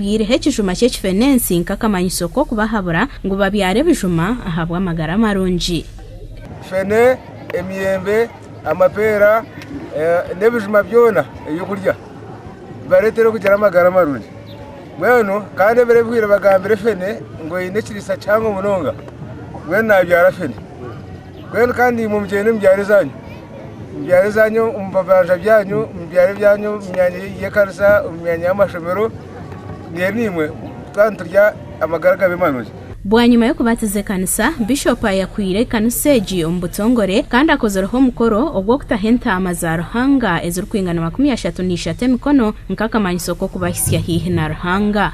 Baireho ekijuma ky'ekifenensi nk'akamanyiso k'okubahabura ngu babyare ebijuma ahabw'amagara marungi. Fene, emiyembe, amapeera, n'ebijuma byona eby'okurya bibareetere kugira amagara marungi. Mbwenu kandi ebiro ebihwire bagambire fene ngu eine ekiriisa kihango munonga, mbwenu nabyara fene. Mbwenu kandi imwe mugyende omu byaro byanyu, omu byaro byanyu, omu bibanja byanyu, omu byaro byanyu, omu myanya y'ekanisa, omu myanya y'amashomero, reero naimwe twaba niturya amagara agabe marungi. Bwanyima y'okubatiza ekanisa, Bishop ayakwiire ekanisa egi omu butongore kandi akozireho omukoro ogw'okutaho entaama za Ruhanga ezirikwingana makumi ashatu na ishatu emikono nk'akamanyiso k'okubahitsya haihi na Ruhanga.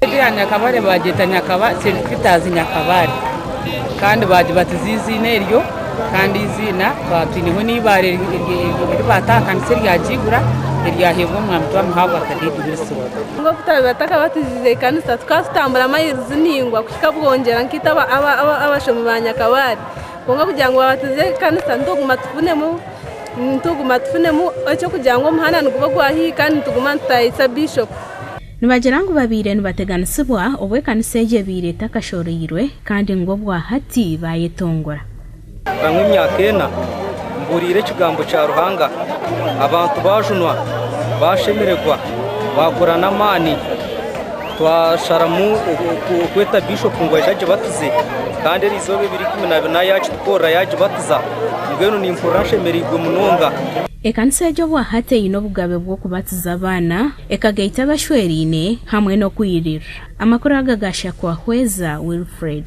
Egyo ya Nyakabare bagyeta Nyakaba, Saint Peter's Nyakabare kandi baagibatiza eiziina eryo kandi eiziina twaba twineho n'eibaare eri baata aha kanisa eryagiigura eryaheebwa omwami Twamuhabwa Kadeti Wilson. Nubwo kutaabaire batakabatizize eikanisa, tukaba tutambura amailizi maingwa kuhika Bwongyera nkaita abashomi ba Nyakabare. Kwonka kugira ngu babatize eikanisa nituguma tufunemu nituguma tufunemu eky'okugira ngu omuhanda niguba ogwa haihi kandi nituguma nitutayaayitsa Bishop. Nibagira ngu babaire nibateganisibwa obu ekanisa egyo ebaire etakashoroirwe kandi ngu obwahati baayetongora. Nka emyaka ena mbuuriire ekigambo kya Ruhanga, abantu baajunwa, baashemererwa, baakora n'amaani. Twasharamu kweta Bishopu ngu aije agibatize kandi eri izooba ebiri ikumi na bina yaakitukorera yaagibatiza. Mbwenu nimpurira nshemereirwe munonga. Ekanisa egyo obwahati eine obugabe bw'okubatiza abaana Ekagaita abashweraine hamwe n'okwirirra. Amakuru aga ga Shakwahweza Wilfred.